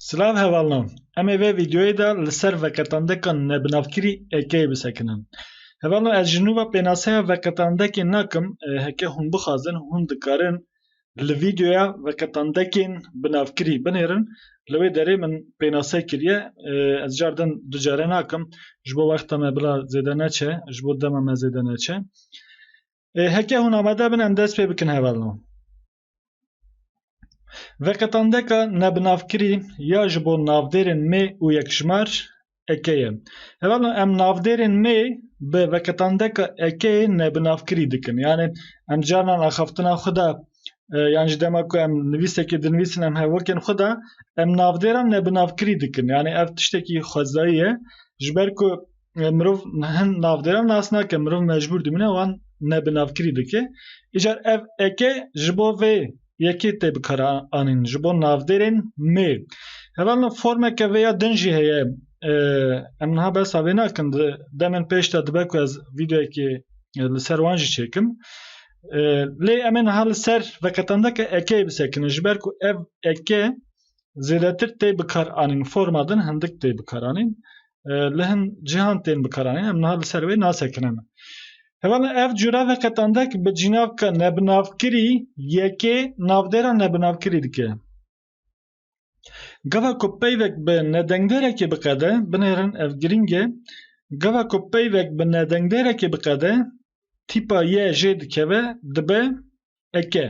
Silav hevalnan, em ê vê vîdeoyê de li ser veqetandeka nebinavkirî ekeyê bisekinin. Hevalnan ez ji nû ve pênaseya veqetandekê nakim, heke hûn bixwazin hûn dikarin li vîdeoya veqetandekên binavkirî binêrin, li wê derê min pênase kiriye, ez car din du care nakim, ji bo wexta me bila zêde neçe, ji bo dema me zêde neçe. Ê heke hûn amade bin em dest pê bikin hevalnan. Veqetandeka nebinavkirî ya ji bo navdêrên mê û yekjmar eke ye. Hevalno em navdêrên mê bi veqetandeka ekê nebinavkirî dikin. Yani em carnan axaftina xwe de e, yan ji dema ku em nivîsekê dinivîsin em hevokên xwe de em navdêran nebinavkirî dikin. Yani ev tiştekî xwezayî ye. Ji ber ku mirov hin navdêran nas nake mirov mecbûr dimîne wan ne bi navkirî dike. Îcar ev eke ji bo vê yekê tê bikara anîn ji bo navdêrên mê. Hevalna formeke vê ya din jî heye. Em niha behsa vê nakin di demên pêş de dibe ku ez vîdeoyekê li ser wan jî çêkim. Lê em ê niha li ser veqetandeke ekeyê bisekinin ji ber ku ev eke Zêdetir tê bikar anîn forma din hindik tê bikar anîn. Li hin cîhan tên bikar anîn em niha li ser wê nasekinin. Hevala ev cura veqetandek bi cînavka nebinavkirî yekê navdêra nebinavkirî dike. Gava ku peyvek bi nedengdêrekê biqede, binêrin ev girîng e, gava ku peyvek bi nedengdêrekê biqede, tîpa ye jê dikeve dibe eke.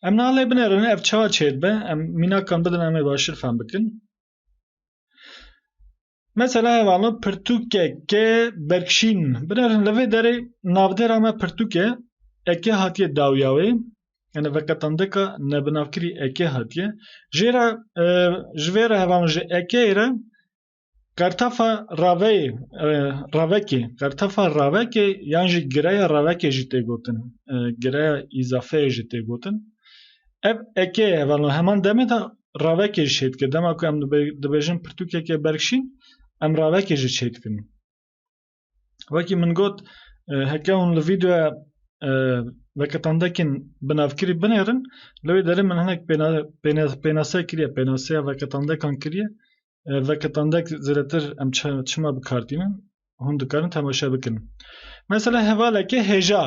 Em nalê binerin ev ça çêd be em mînakan bidin em ê başir fem bikin. Mesela hevalo pirtûkeke berkşîn binerin li vê derê navdêra me pirtûke eke hatiye dawya wê yani veqetandeka nebinavkirî eke hatiye jê re ji vê re hevalo ji ekeyê re Qertefa raveyê, ravekê, qertefa ravekê yan jî gireya ravekê jî tê gotin, gireya îzafeyê jî tê gotin. Ev ekê ye hevalno heman demê de ravekê jî çêdike. Dema ku em dibêjin pirtûkeke berkşîn, em ravekê jî çêdikin. Wekî min got heke hûn li vîdeoya veketandekên binavkirî binêrin li wê derê min hinek pênase kiriye pênaseya veketandekan kiriye veketandek zêdetir em çima bikardînin hûn dikarin temaşe bikin. Mesela hevaleke hêja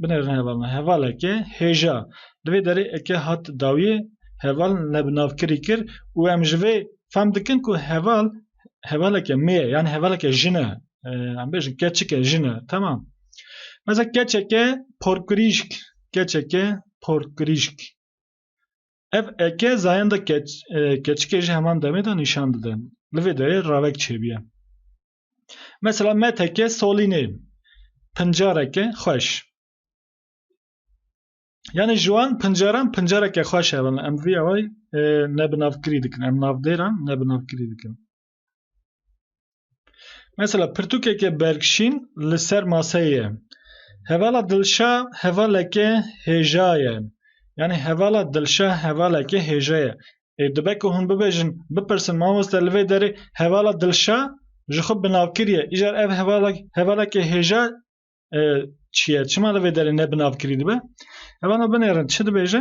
binêrin hevalna hevaleke hêja li vê derê eke hat dawiyê heval nebinavkirî kir û em ji vê fem dikin ku heval hevaleke mê yani hevaleke jine em bêjin keçike jine tamam meza keçeke porkirîşk keçeke porkirîşk ev eke zayenda keç keçike ji heman demê de nîşan dide li vê derê ravek çêbiye mesela meteke solînê pincareke xweş Yani ji wan pincaran pincareke xweş hebe me em vî away e, ne bi navkirî dikin em navdêran ne bi navkirî dikin. Mesela pirtûkeke bergşîn li ser maseyê hevala dilşa hevaleke hêja ye. Yani hevala dilşa hevaleke hêja ye. Ê e, dibe ku hûn bibêjin bipirsin mamoste li vê derê hevala dilşa ji xwe binavkiriye. Îcar ev hevala hevaleke hêja çiye çima li vê derê ne binavkirî dibe hevala binêrin çi dibêje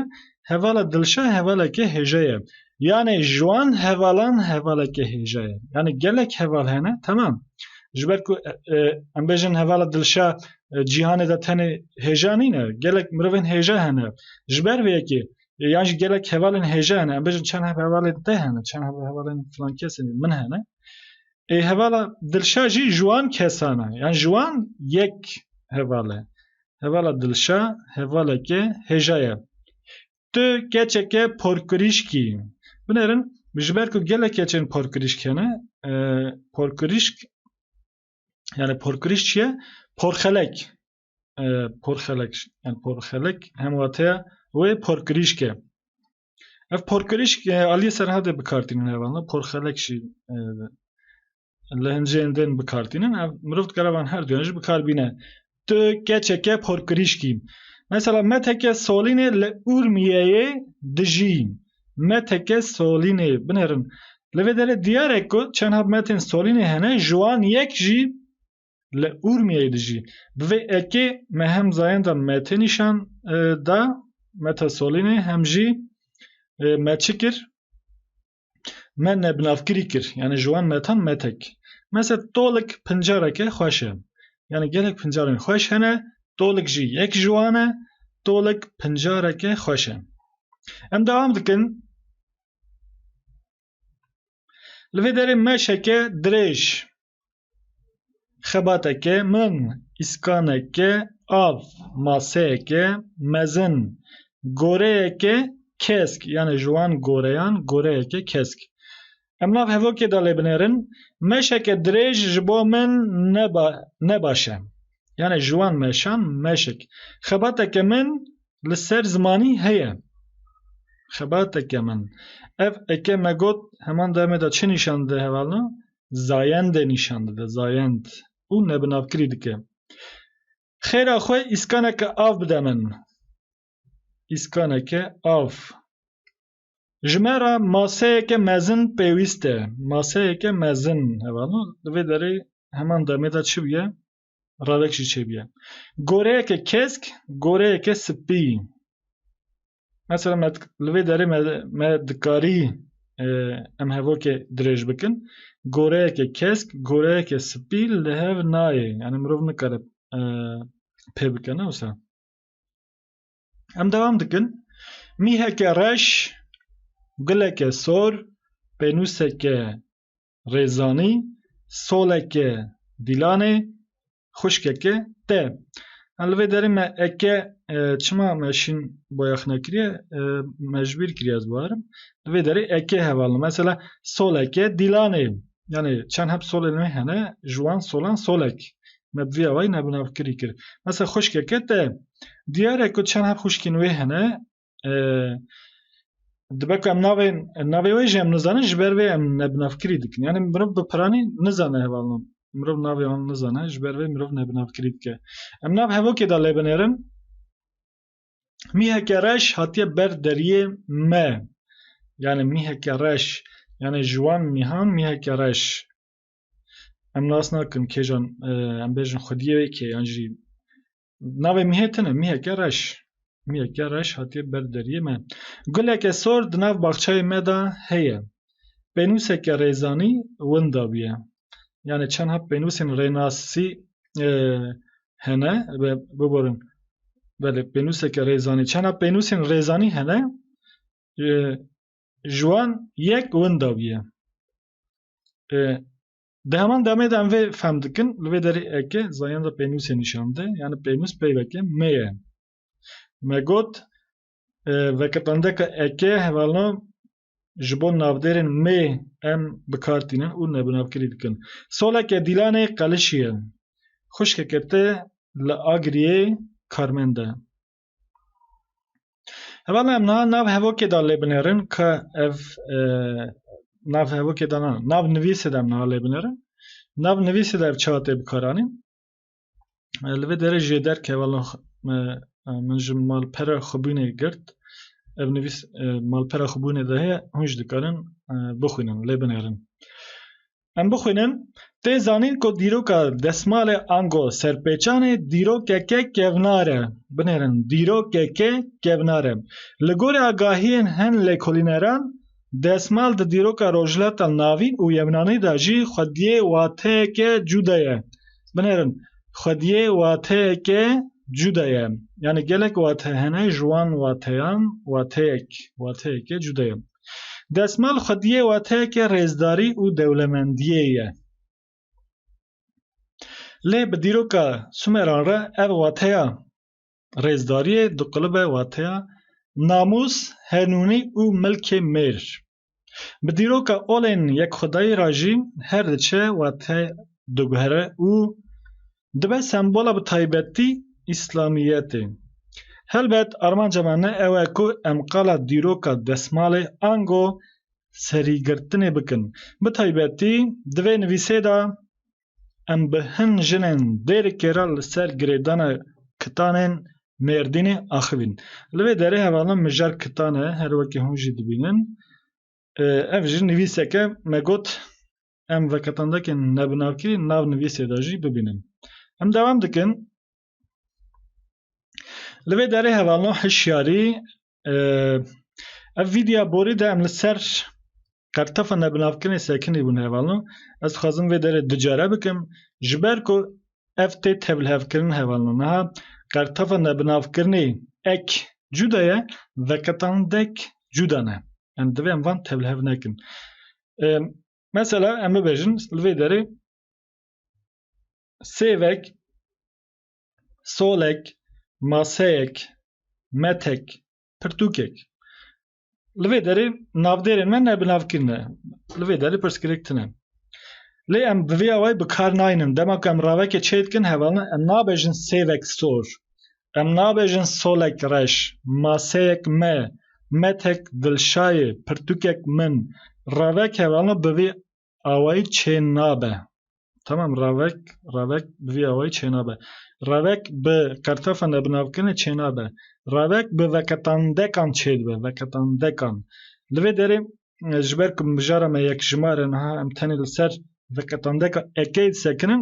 hevala dilşe hevaleke hêje ye yanê ji wan hevalan hevaleke hêje ye yanê gelek heval hene temam ji ber ku em bêjin hevala dilşe cîhanê de tenê hêja nîne gelek mirovên hêje hene ji ber vê yekê yan jî gelek hevalên hêje hene em bêjin çend hevalên te hene çend hevalên filan kesê min hene Ê hevala Dilşa jî ji wan kesan e. Yan ji wan yek heval e. Hevala Dilşa hevaleke hêja ye. Tu keçeke porkirîşk î. Binêrin ji ber ku gelek keçên porkirîşk hene, porkirîşk yani porkirîşk çi ye? Porxelek. Porxelek. Yani porxelek hemwateya wê porkirîşk e. Ev porkirîş aliyê serhadê bikartînin hevalna porxelek jî li hincên din bikartînin ev mirov dikare van her duyan jî bikar bîne. Tu keçeke porkirîşkî. Mesela me teke solînê li Urmiyeyê dijî. Me teke solînê binerin. Li vê derê diyar e ku çend hab metên solînê hene ji wan yek jî Li Urmiyeyê de jî bi vê ekê me hem zayenda me tê nîşan da Meta Solînê hem jî me çi kir me nebinavkirî kir yanî ji wan metan metek. Mese tolik pincareke xweş e. Yanî gelek pincarên xweş hene tolik jî yek ji wan e tolik pincareke xweş e. Em dewam dikin. Li vê derê meşeke dirêj, xebateke min, îskaneke av, maseyeke mezin, goreyeke kesk, yanê ji wan goreyan goreyeke kesk. Em nav hevokê de lê binêrin, Meşeke dirêj ji bo min ne ne baş e. Yanê ji wan meşan meşek. Xebateke min li ser zimanî heye. Xebateke min. Ev eke me got heman demê de çi nîşan dide hevalna? Zayendê nîşan dide, zayend. Û nebinavkirî dike. Xêra xwe îskaneke av bide min. Îskaneke av. Ji me re maseyeke mezin pêwîst e. Maseyeke mezin hevalna. Li vê derê heman demê de çi bûye? Ravek jî çêbiye. Goreyeke kesk, goreyeke spî. Mesela me li vê derê me me dikarî e, em hevokê dirêj bikin. Goreyeke kesk, goreyeke spî li hev nayê. Yani mirov nikare e, pê bike ne wisa. Em devam dikin. Mîheke reş, guleke sor, pênûseke Rêzanî soleke dîlanê xwişkeke te. Em li vê derê me eke çima me şîn boyaxna kiriye mecbîr kiriye ez biarim. Li vê derê eke hevalin. Mesela soleke dîlanê. Yani çend heb solên wê hene ji wan solan solek. Me bi vî awayî nebinavkirî kir. Mesela xwişkeke te. Diyar e ku çend heb xwişkên wê hene dibe ku em navê navê wê jî em nizanin ji ber vê em nebinavkirî dikin yanî mirov bi piranî nizane hevalnan mirov navê wan nizane ji ber vê mirov nebinavkirî dike em nav hevokê da lê binêrin mîheke reş hatiye ber deriyê me yanî mîheke reş yanî ji wan mîhan mîheke reş em nas nakin kêjan em bêjin xwediyê wê kê yan jî Navê mîhê tune mîheke reş. Mîheke reş hatiye ber deriyê me. Guleke sor di nav baxçeyê me de heye. Pênûseke rêzanî winda bûye. Yanê çendha pênûsên rênasî hene biborin belê pênûseke rêzanî çendha pênûsên rêzanî hene ji wan yek winda bûye. Di heman demê de em vê fehm dikin li vê derê eke zayan de pênûsê nîşan de yani pênûs peyveke me ye. Me got veketandeka eke hevalna ji bo navdêrên mê em bi kar tînin û nebinavkirî dikin. Soleke Dîlanê Qelişî ye. Xwişkeke te li Agiriyê karmend e. Hevala em niha nav hevokê da lê binêrin ke ev e, nav hevokê da na nav nivîsê de em niha lê binêrin nav nivîsê de ev çawa tê bikaranîn e, li vê derê jê derke hevala e, min ji malpera xwebûnê girt ev nivîs malpera xwebûnê de heye hûn jî dikarin bixwînin lê binêrin Em bixwînin, tê zanîn ku dîroka desmalê ango serpêçanê dîrokeke kevnar e. Binêrin, dîrokeke kevnar e. Li gorî agahiyên hin lêkolîneran, desmal di dîroka Rojhilata Navîn û Yevnanî de jî xwediyê wateyeke cuda ye. Binêrin, xwediyê wateyeke cuda ye. Yanî gelek wate hene ji wan wateyan wateyek, wateyeke cuda ye. Desmal xwediyê wateyeke rêzdarî û dewlemendiyê ye. Lê bi dîroka Sumeran re ev wateya rêzdariyê diqilibe wateya namûs, henûnî û milkê mêr. Bi dîroka olên yekxwedayî re jî her diçe wate diguhere û dibe sembola bi taybetî îslamiyetê. Helbet armanca me ne ew e ku em qala dîroka desmalê ango serîgirtinê bikin. Bi taybetî di vê nivîsê de em bi hin jinên Dêrikê re li ser girêdana kitanên Mêrdînê axivîn. Li vê derê hevalna mijar kitan e, her wekî hûn jî dibînin. Ev jî nivîseke me got em veketandekên nebinavkirî li nav nivîsê de jî bibînin. Em dewam dikin, Li vê derê hevalno hişyarî, ev vîdya borî de em li ser qertefa nebinavkirinê sekinî bûn hevalno. Ez dixwazim vê derê du care bikim ji ber ku ev tê tevlhevkirin hevalno. Niha qertefa nebinavkirinê ek cuda ye, veketandek cuda ne. Em divê em van tevlihev nekin. Mesela em bibêjin li vê derê sêvek, solek, maseyek, metek, pirtûkek. Li vê derê navdêrên me ne binavkir ne. Li vê derê pirsgirêk tune. Lê em bi vê awayî bi kar naynin. Dema ku em ravekê çêdikin hevalin em nabêjin sêvek sor. Em nabêjin solek reş, maseyek me, methek dilşayê, pirtûkek min. Revek hevano bi vî awayî çênabe. Tamam revek, revek bi vî awayî çênabe. Revek bi qertefa nebinavkirine çênabe. Revek bi veketandekan çêdibe, veketandekan. Li vê derê ji ber ku mijara me yekjimar e niha em tenê li ser vê qetandeka ekê disekinin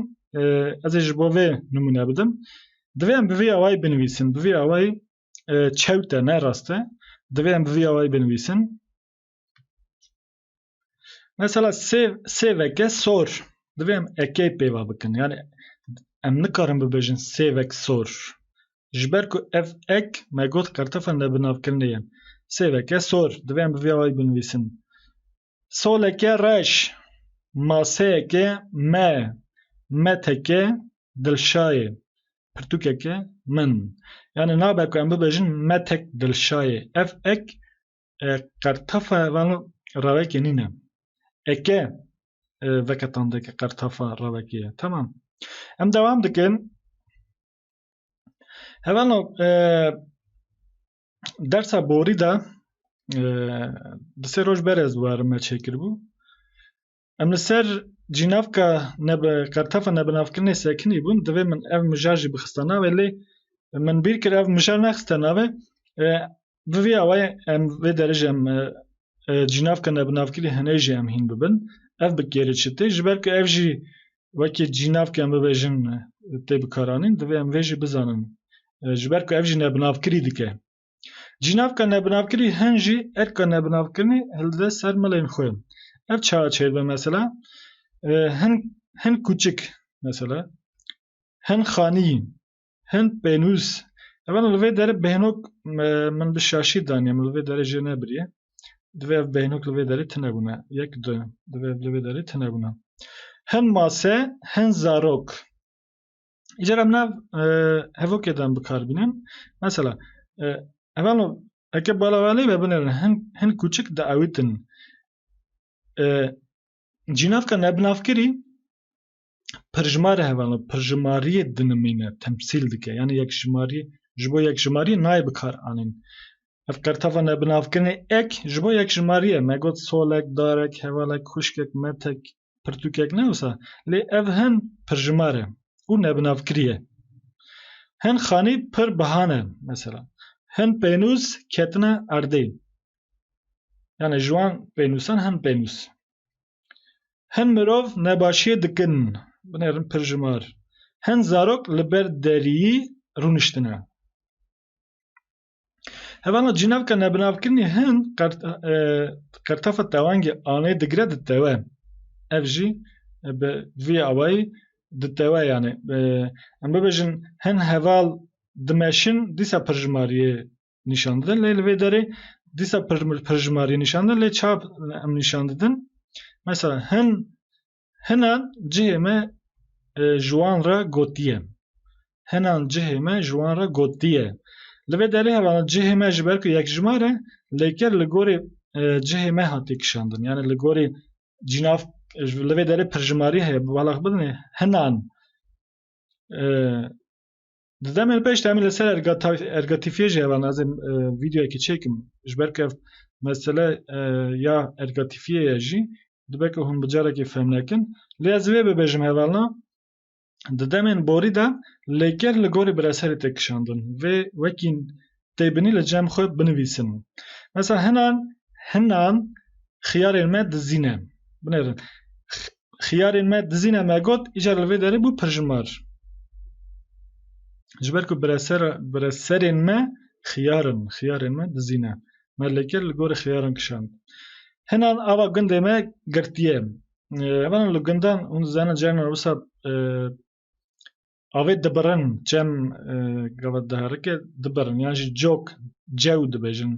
ez ê ji bo vê nimûne bidim. Divê em bi vî awayî binivîsin. Bi vî awayî çewt e ne rast e. Divê em bi vî awayî binivîsin. Mesela sê sê veke sor. Divê em ekê pêva bikin. Yani em nikarin bibêjin sê vek sor. Ji ber ku ev ek me got qertefa nebinavkirinê ye. Sêveke sor, divê em bi vê awayî binivîsin. Soleke reş, maseyeke me, meteke dilşayê, pirtûkeke min. Yanî nabe ku em bibêjin metek dilşayê. Ev ek qertefa vano rewekê nîne. Eke veke tandeke qertefa rewekê ye. Temam. Em dewam dikin. Hevano e, dersa borî de e, di sê roj berez warime çêkiribû. Em li ser cînavka nebe kartefa nebinavkirinê sekinî bûn divê min ev mijar jî bixista navê lê min bîr kir ev mijar nexiste navê e, Bi vî awayê em vê derê jî em cînav ke nebinavkirî hinê jî em hîn bibin. Ev bi kêrê çi tê? Ji ber ku ev jî wekî cînav ke em bibêjin tê bikaranîn divê em vê jî bizanin. Ji ber ku ev jî nebinavkirî dike. Cînav ke nebinavkirî hin jî erka nebinavkirinê hilide ser milên xwe. Ev çawa çêr be mesela hin hin kûçik mesela hin xanî Hind pênûs. Ev li vê derê bêhnok min bi şaşî daniye min li vê derê jê nebiriye. Divê ev bêhnok li vê derê tune bûne. Yek du. Divê ev li vê derê tune bûne. Hin mase, hin zarok. Îcar em nav hevokê de em bikar bînin. Mesela ev an eke bala welê be binêrin hin hin kûçik diewîtin. Cînavka nebinavkirî pirjimarê hevalên pirjimariyê dinimîne, temsîl dike yanî yekjimariyê ji bo yekjimariyê nayê bikar anîn. Ev qerteva nebinavkirinê ek ji bo yekjimariyê ye. Me got solek, darek, hevalek, xwişkek, metek, pirtûkek ne wisa lê ev hin pirjimar e û nebinavkirî ye. Hin xanî pir biha ne mesela hin pênûs ketine erdê. Yanî ji wan pênûsan hin pênûs. Hin mirov nebaşiyê dikin, binêrin pir ji mar. Hin zarok li ber deriyî rûniştine. Hevana cînevka nebinavkirinê hin qertafa tewangê anê digire di tewe. Ev jî bi vî awayî di tewe yanê. Em bibêjin hin heval dimeşin dîsa pir ji mar yê nîşan didin lê li vê derê dîsa pirjimariyê nîşan didin lê ça em nîşan didin mesela hin hinan cihê me e, ji wan re gotiye hinan cihê me ji wan re gotiye li vê derê hevana cihê me ji ber ku yekjimar e lêker li gorê e, cihê me hatiye kişandin yani li gorê cînav e, ji- li vê derê pirjimarî heye balax bidin hinan e, Di demên pêş de em li ser ergatifiyê jî heva nazê vîdeoyekî çêkim ji ber ku ev mesele ya ergatifiyê ye jî dibe ku hûn bi carekê fehm nekin. Lê ez vê bibêjim hevalna di demên borî de lêker li gorî biraserê tê kişandin. Vê wekî tê binî li cem xwe binivîsim. Mesela hinan hinan xiyarên me dizîne. Binêrin. Xiyarên me dizîne me got îcar li vê derê bû pirjimar. Ji ber ku bireser bireserên me xiyarin, xiyarên me dizîne. Me li kir li gorî xiyaran kişand. Hinan ava gundê me girtiye. Evan li gundan hûn dizanin carna wisa Avê dibirin çem gavet diherike dibirin yan jî cok cew dibêjin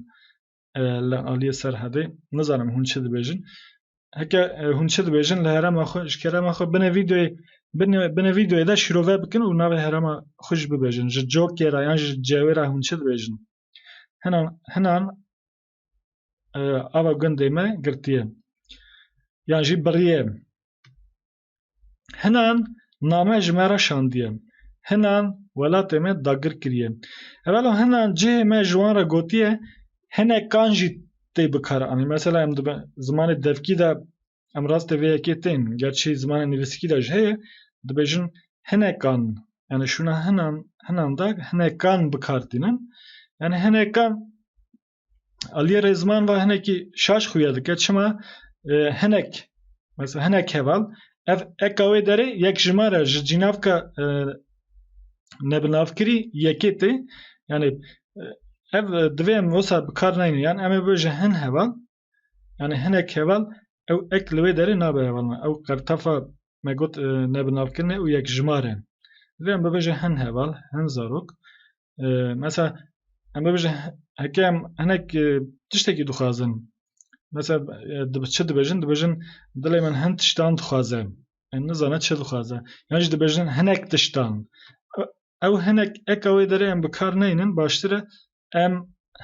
li aliyê Serhedê nizanim hûn çi dibêjin heke hûn çi dibêjin li herema xwe ji kerema xwe binê vîdeoyê binê vîdeoyê de şîrove bikin û navê herema xwe jî bibêjin ji cokê re yan jî ji cewê re hûn çi dibêjin hinan hinan ava gundê me girtiye yan jî biriye Hinan name ji me re şandiye. Hinan welatê me dagir kiriye. Evelo hinan cihê me ji wan re gotiye hinek kan jî tê bikare anîn. Mesela em dibe zimanê devkî de em rastê vê yekê tên. Gerçî zimanê nivîskî de jî heye dibêjin hinek kan yani şûna hinan hinan de hinek kan bikar tînin. Yani hinek kan Aliye Rêzman va hinekî şaş xuya dike çima e, hinek mesela hinek heval ev eka wê derê yek ji me re ji cînavka e, nebinavkirî yekê tê yanî e, ev e, divê em wisa bi kar neynin yan em ê bi ji hin heval yanî hinek heval ew ek li wê derê nabe heval me ew qertefa me got e, nebinavkirinê û yek ji me re divê em bibe ji hin heval hin zarok mesela em bibêjin heke em hinek tiştekî dixwazin mesela çi dibêjin dibêjin dilê min hin tiştan dixwaze em nizane çi dixwaze yan jî dibêjin hinek tiştan ew hinek eka wê derê em bi kar neynin baştir e em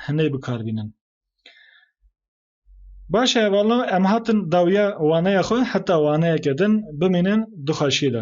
hinê bi kar bînin Baş e valla em hatin dawiya waneya xwe heta waneyeke din bimînin du xweşiyê de